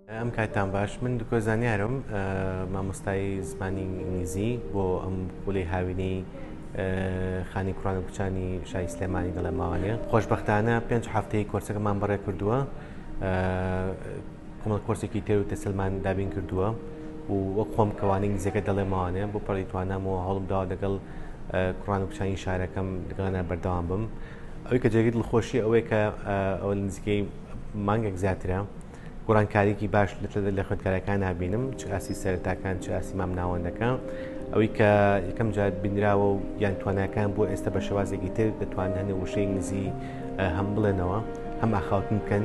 ئەم کاتان باش من دکۆ زانیارم مامۆستای زمانی ئینگلیزی بۆ ئەم خولی هاوینەی خانی کوڕان و کوچانی شای سلێمانی دەڵێ ماوانێ خۆشببختانە پێنج هەفتەی کۆرسەکەمان بەڕێ کردووە کۆمەڵ کۆرسێکی تێر و تەسلمان دابین کردووە و وەک خۆم کەوانەی نزیەکە دەڵێ ماوانێ بۆ پەڕی توانامەوە هەڵم داوە دەگەڵ کوڕان و کچانی شارەکەم دەگەڵانە بەردەوام بم ئەوی کە جێگەی دڵخۆشی ئەوەیە کە ئەوە نزیکەی مانگێک زیاترە گۆڕانکاریکی باش لە خوێندکارەکان نبینم چ ئاسی سەرتاکان چ ئاسی مام ناوەندەکان ئەوەی کە یەکەم جار بینراوە و یان تواناکان بۆ ئێستا بە شێوازێکی تر دەتوان هەنێ وشەی نزی هەم بڵێنەوە هەم ئاخاوتن بکەن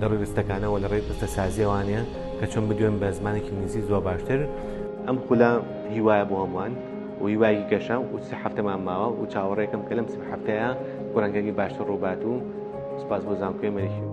لە ڕووی ڕستەکانە وە لە ڕێی ڕستە سازیەوانێ کە چۆن بدوێن بە زمانی کینگلیزی زۆر باشتر. ئەم خولە هیوایە بۆ هەمووان و هیوایەکی گەشە و سێ هەفتەمان ماوە و چاوەڕێکم کە لەم سێ هەفتەیە گۆرانکاری باشتر ڕووبات و سپاس بۆ زانکۆی مەریخی